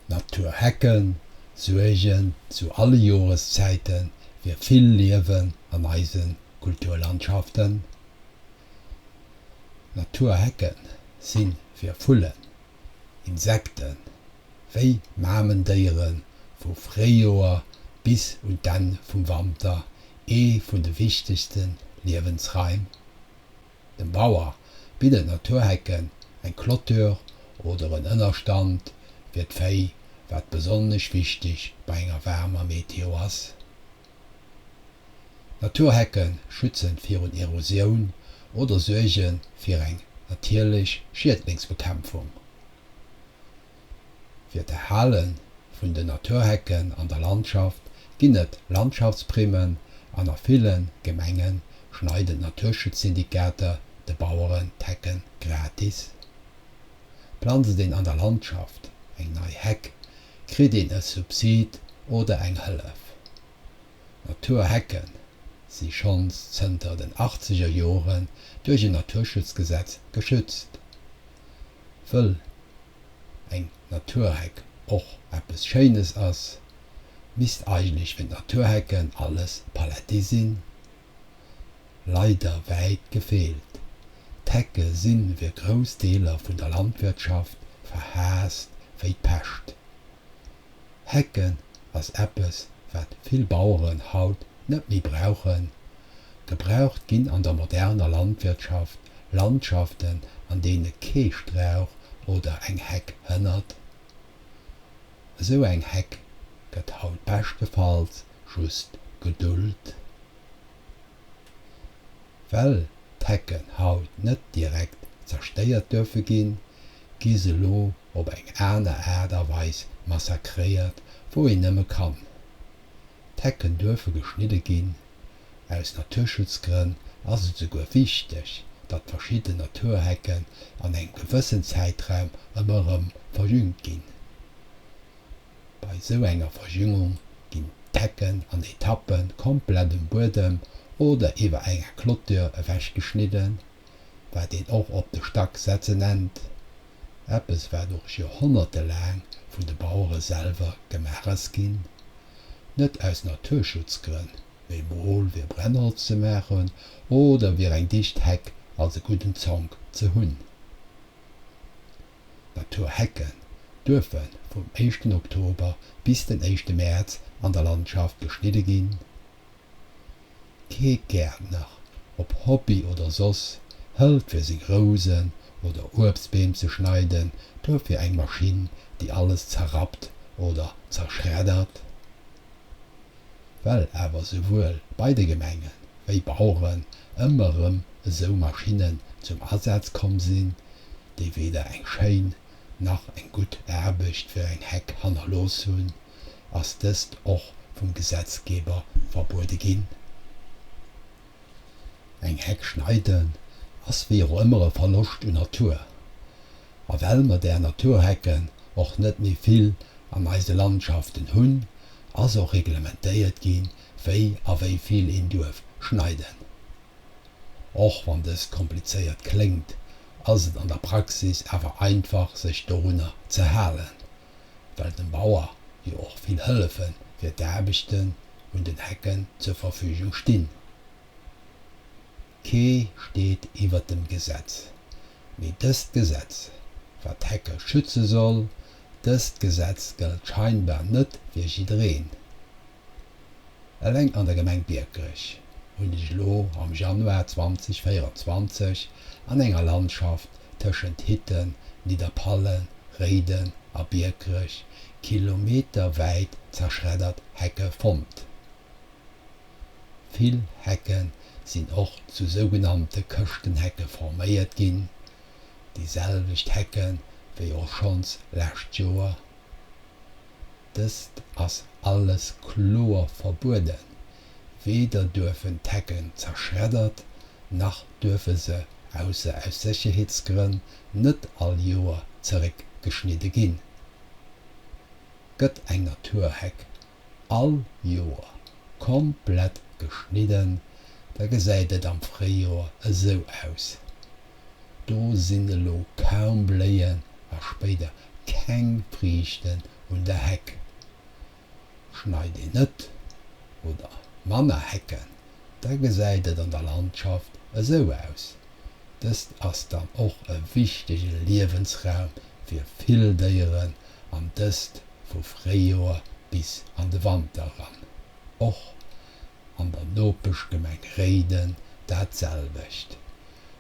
Naturhecken suergen zu alle Joreszäite fir vill Liewen an eise Kulturlandschaften. Naturhecke si fir Vullen, Insekten, wéi Mamendéiere vu Fréijoer bis un d'Enn vum Wanter ee vun de wichtegste Liewensraim. Dem Bauer bidden Naturhecken eng Clôture oder en Ënnerstand fir d'Véi, wat besonnesch wichteg bei enger waarmer Meteo ass. Naturhecke schützen virun Erosioun oder suergen fir eng natierlech Schiedlingsbekämpfung. Fir d'Erhale vun den Naturhecken an der Landschaft ginn et Landschaftsprimen an a ville Gemenge schneiden d'Naturschutzsyndikater de Baueren d'Hecken gratis. Planzt een an der Landschaft eng nei Heck, kritt een e Subsid oder eng Hëllef. Naturhecken si schonns zënter den Achtzegerjoren duerch en Naturschutzgesetz geschützt. wëll eng Naturheck och eppes Schéines ass, misst eigentlech fir d'Naturhecken alles paletti sinn. Leider wäit gefeelt. D'Hecke si fir grouss Deeler vun der Landwirtschaft verhaasst wéi d'Pescht. Hecken ass eppes wat vill Baueren haut net méi brauchen. Gebraucht ginn an der moderner Landwirtschaft Landschaften an deene kee Strauch oder eng Heck hënnert. Esou eng Heck gëtt haut beschtefalls just geduld. Well d'Hecken haut net direkt zerstéiert duerfe ginn, gi se lo op eng aner Aart a Weis massakréiert, wou een nëmme kann. D'Hecken duerfe geschnidde ginn. Aus Naturschutzgrënn ass et souguer wichteg, datt verschidden Naturhecken an engem gewëssen Zäitraum ëmmer erëm verjüngt ginn. Bei sou enger Verjüngung ginn d'Hecken an Etappe komplett um Buedem oder iwwer enger Clôture ewech geschnidden, wat een och op de Stack setze nennt, eppes wat och Joerhonnerte laang vun de Bauere selwer gemaach ass ginn, net aus Naturschutzgrënn, mee mol fir Brennholz ze maachen oder fir eng dicht Heck als e gudden Zonk ze hunn. Natur Hecken duerfe vum éischten Oktober bis den éischte Mäerz an der Landschaft geschnidde ginn. Kee Gäertner, ob Hobby oder soss, hëlt fir seng Rousen oder Uebstbeem ze schneiden duerfir eng Maschinn, déi alles zerrappt oder zerschreddert. Well awer souwuel bei de Gemenge wéi Baueren ëmmer erëm esou Maschinnen zum Asaz komm sinn, déi weder eng schéin nach eng gutt Aarbecht fir eng Heck hannerlooss hunn, ass dëst och vum Gesetzgeber verbuede ginn. Eng Heck schneiden ass wéi och ëmmer e Verloscht un Natur. A well mer där Naturhecken och net méi vill an eise Landschaften hunn, ass och reglementéiert ginn, wéi a wéi vill een duerf schneiden. Och wann dëst komplizéiert kléngt, ass et an der Praxis awer einfach sech dorunner ze halen, well dem Bauer jo och vill Hëllefe fir d'Aarbechten un den Hecken zur Verfügung stinn. Kee steet iwwert dem Gesetz, mee dëst Gesetz, wat d'Hecke schütze soll, dëst Gesetz gëllt scheinbar net fir jiddereen. Eleng an der Gemeng Biekerech hunn ech elo am Januar 2024 an enger Landschaft tëschent Hitten, Nidderpallen, Réiden a Biekerech kilometerwäit zerschreddert Hecke fonnt. Vill Hecke sinn och zu sougenannte Këschtenhecke forméiert ginn, déi selwecht Hecke wéi och schonns lescht Joer. Dëst ass alles kloer verbueden, weder duerfen d'Hecken zerschreddert, nach duerfe se, ausser aus Sécherheetsgrënn, net all Joer zeréckgeschnidde ginn. Gëtt eng Naturheck all Joer komplett geschnidden, da gesäit et am Fréijoer esou aus. Do sinn elo kaum Bléien a spéider keng Friichten un der Heck. Schneit een net oder manner Hecken, da gesäit et an der Landschaft esou aus. Dëst ass dann och e wichtege Liewensraum fir vill Déieren, an dëst vu Fréijoer bis an de Wanter eran. Och an der Nopeschgemeng Réiden dat selwecht.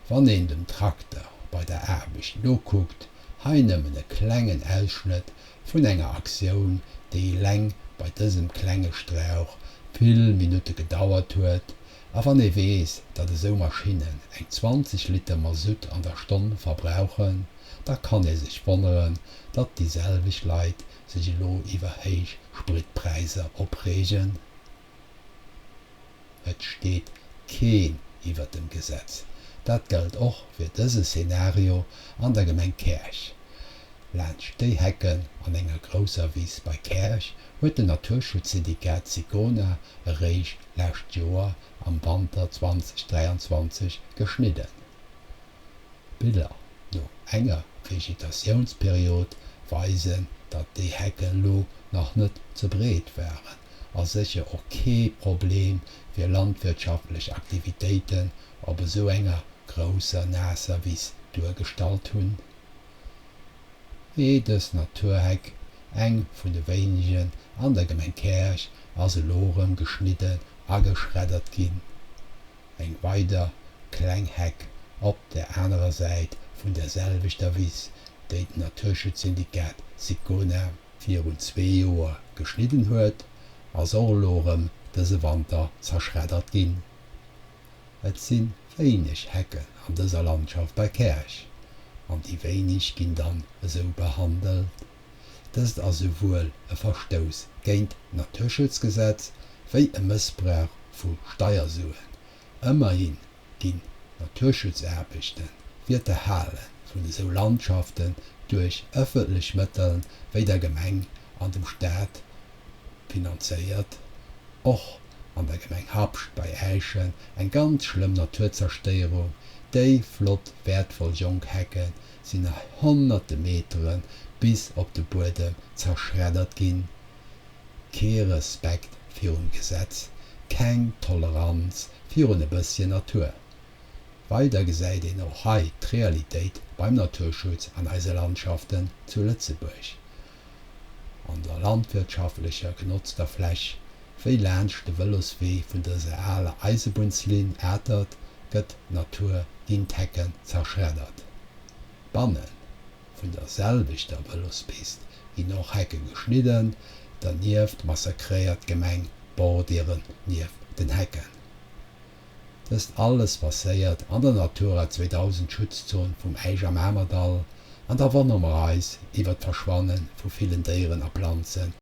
Wann een dem Trakter bei der Aarbecht nokuckt, hei nëmmen e klengen Ausschnëtt vun enger Aktioun, déi eleng bei dësem klenge Strauch vill Minutte gedauert huet, a wann ee weess, datt esou Maschinnen eng 20 Liter Masutt an der Stonn verbrauchen, da kann ee sech wonneren, datt déi selwecht Leit sech elo iwwer héich Spritpräisser opreegen. Et steet keen iwwert dem Gesetz. Dat gëllt och fir dëse Szenario an der Gemeng Käerch. Laanscht déi Hecken an enger grousser Wiss bei Käerch huet den Naturschutzsyndikat Sicona eréischt lescht Joer am Wanter 2023 geschnidden. D'Biller no enger Vegetationsperiod weisen, datt déi Hecke lo nach net ze breet waren. a sécher och kee Problem fir landwirtschaftlech Aktivitéiten op esou enger grousser naasser Wiss duergestallt hunn, wéi dës Naturheck, eng vun de wéinegen an der Gemeng Käerch, ass elo erëm geschnidden a geschreddert ginn, eng weider kleng Heck op der anerer Säit vun der selwechter Wiss, déi den Naturschutz-Syndikat Sicona, virun zwee Joer geschnidden huet, ass och elo erëm dëse Wanter zerschreddert ginn. Et si wéineg Hecken an dëser Landschaft bei Käerch an déi wéineg ginn dann esou behandelt. Dëst ass esouwuel e Verstouss géint d'Naturschutzgesetz wéi e Mëssbrauch vu Steiersuen, Ëmmerhin ginn d'Naturschutzarbechten fir d'Erhale vun esou Landschaften duerch ëffentlech Mëttel wéi der Gemeng an dem Staat finanzéiert. Och an der Gemeng Habscht bei Äischen eng ganz schlëmm Naturzerstéierung, déi flott wäertvoll jonk Hecke sinn a honnerte Metere bis op de Buedem zerschreddert ginn, Kee Respekt virum Gesetz, keng Toleranz virun e bësschen Natur. Weider gesäit een och hei d'Realitéit beim Naturschutz an eise Landschaften zu Lëtzebuerg, an der landwirtschaftlecher genotzter Fläch, wéi laanscht de Vëloswee vun dëser aler Eisebunnslinn Atert gëtt d'Natur ginn d'Hecken zerschreddert. Bannen vun der selwechter Vëlospist ginn och Hecke geschnidden, dernieft massakréiert d'Gemeng d'Bordieren nieft den Hecken. Dëst alles passéiert an der Natura 2000 Schutzzon vum Äisch am Amerdall, an da wonnere mer eis iwwert d'Verschwanne vu villen Déieren a Planzen.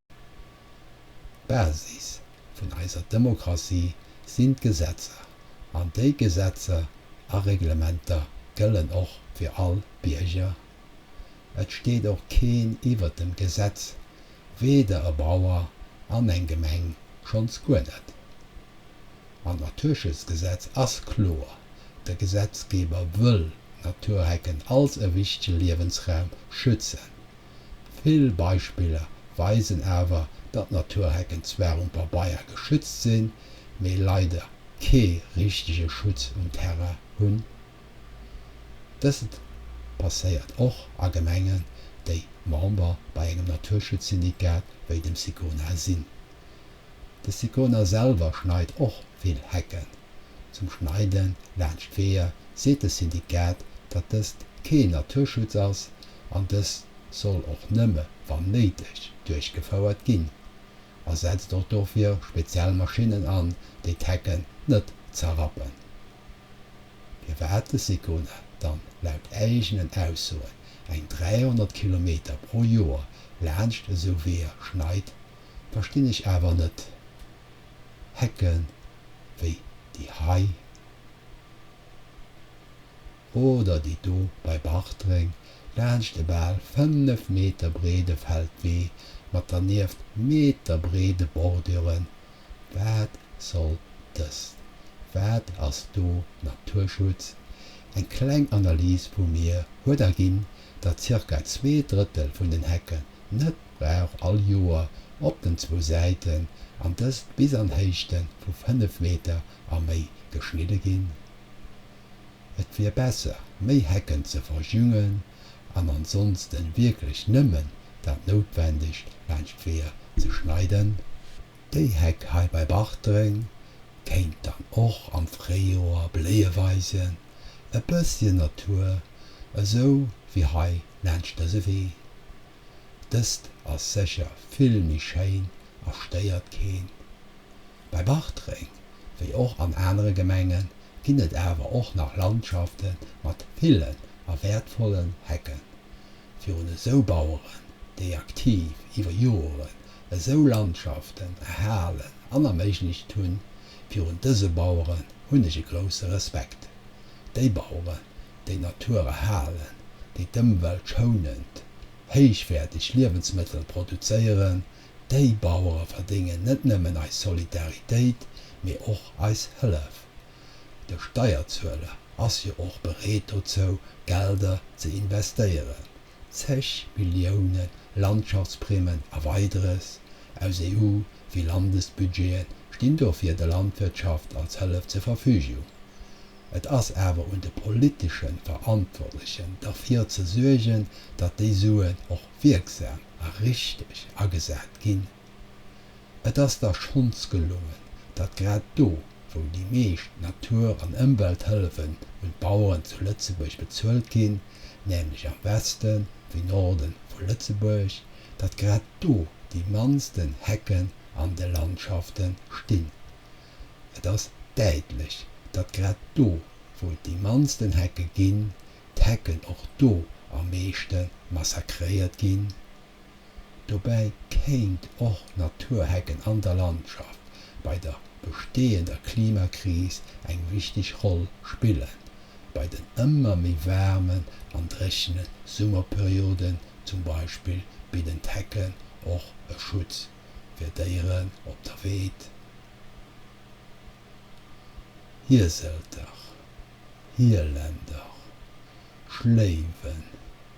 D'Basis vun eiser Demokratie sinn d'Gesetzer, an déi Gesetzer a Reglementer gëllen och fir all Bierger. Et steet och keen iwwert dem Gesetz, weder e Bauer an eng Gemeng schonns guer net. An d'Naturschutzgesetz ass kloer, de Gesetzgeber wëll Naturhecken als e wichtege Liewensraum schützen, Vill Beispiller weisen awer, datt Naturhecken zwar um Pabeier geschützt sinn, mee leider kee richtege Schutz um Terrain hunn. Dëst passéiert och a Gemengen, déi Member bei engem Naturschutzsyndikat wéi dem SICONA sinn. De Sicona selwer schneit och vill Hecken. Zum Schneide laanscht Weeër seet de Syndikat, datt dëst keen Naturschutz ass an dëst soll och nëmme wann néideg duerchgefouert ginn a setzt och dofir speziell Maschinnen an, déi d'Hecken net zerrappen. Firwat de Sicona dann laut eegenen Aussoen eng 300 Kilometer pro Joer laanscht esou Weeër schneit, Verstinn ech awer net. Hecken wéi déi hei oder déi do bei Bartreng laanscht e bal 5 Meter breede Feldwee mat dernieft meterbreede Borduren, wat soll dëst? Wat ass do Naturschutz? Eng kleng Analys vu mir huet erginn, datt zirka zwee Drëttel vun den Hecken net brauch all Joer op den zwou Säiten, an dëst bis an Héichte vu 5 Meter a méi, geschnidde ginn? Et wier besser, méi Hecken ze verjüngen an ansonsten wierklech nëmmen dat Noutwendegt laanscht d'Weeër ze schneiden. Déi Heck hei bei Bartreng kéint dann och am Fréijoer Bléie weisen. e bësschen Natur, esou wéi hei laanscht dëse Wee. Dëst ass sécher vill méi schéin a stéiert keen. Bei Bartreng, wéi och an anere Gemengen, ginn et awer och nach Landschaften mat villen a wäertvollen Hecken. fir un esou Baueren, déi aktiv iwwer Joren esou Landschaften erhalen an erméiglecht hunn, virun dëse Baueren hunn ech e grousse Respekt. Déi Baueren, déi d'Natur erhalen, déi d'Ëmwelt schounend, héichwäerteg Liewensmëttel produzéieren, déi Bauere verdéngen net nëmmen eis Solidaritéit, mee och eis Hëllef. De Steierzueler ass jo och bereet dozou, Gelder ze investéieren, zeg Millioune Landschaftsprimen a Weideres, aus EU wéi Landesbudgete stinn do fir der Landwirtschaft als Hëllef zur Verfügung. Et ass awer un de politesche Verantwortlechen derfir ze suergen, datt déi Suen och wierksam a richteg agesat ginn. Et ass der schonns gelongen, datt grad do, wou déi meescht Natur an Ëmwelthëllefen un d'Baueren zu Lëtzebuerg bezuelt ginn, nämlech am Weste wéi Norde vu Lëtzebuerg, datt grad do déi mannsten Hecken an de Landschafte stinn. Et ass däitlech, datt grad do, wou et déi mannsten Hecke ginn, d'Hecken och do am meeschte massakréiert ginn. Dobäi kéint och Naturhecken an der Landschaft bei der besteeënder Klimakris eng wichteg Roll spillen, bei den ëmmer méi waarmen an dréchene Summerperioden zum Beispill bidden d'Hecken och e Schutz fir Déieren op der Weed, Hieselter, Hielender, Schléiwen.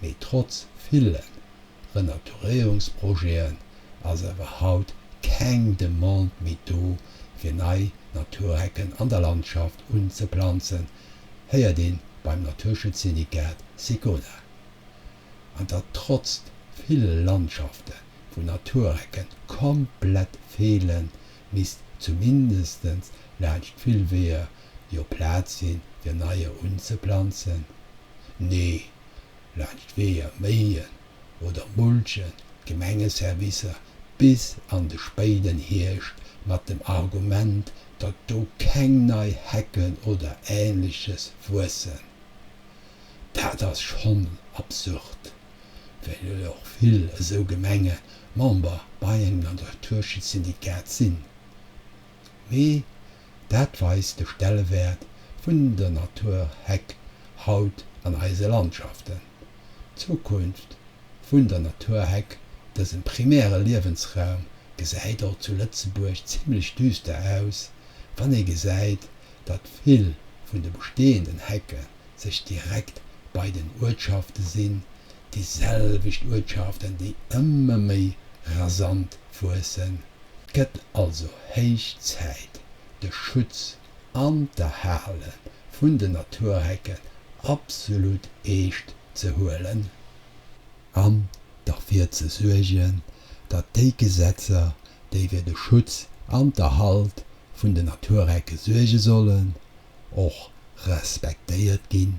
mee trotz ville Renaturéierungsprojeten ass awer haut keng Demande méi do fir nei Naturhecken an der Landschaft unzeplanzen, héiert ee beim Naturschutzsyndikat SECONA. An datt trotz vill Landschafte vu Naturhecke komplett feelen, misst zumindest laanscht vill Weeër jo Plaz si fir neie unzeplanzen. Nee, laanscht Weeër, Méien oder Mulchen d'Gemengeservicer bis an de spéiden Hierscht mat dem Argument, datt do keng nei Hecken oder Ähnleches wuessen. Dat ass schonn absurd, well jo och vill esou Gemenge Member bei engem Naturschutzsyndikat sinn. mee dat weist de Stellewäert vun der Natur Heck haut an eise Landschaften. D'Zukunft vun der Natur Heck, dësem primäre Liewensraum, gesäit och zu Lëtzebuerg zimmlech düster aus, wann ee gesäit, datt vill vun de bestehenden Hecken, sech direkt bei den Uertschaften sinn, déi selwecht Uertschaften, déi ëmmer méi rasant wuessen. Et gëtt also héich Zäit, de Schutz an d'Erhale vun den Naturhecken absolut eescht ze huelen, an derfir ze suergen, datt déi Gesetzer, déi fir de Schutz an d'Erhalt vun den Naturhecke suerge sollen, och respektéiert ginn?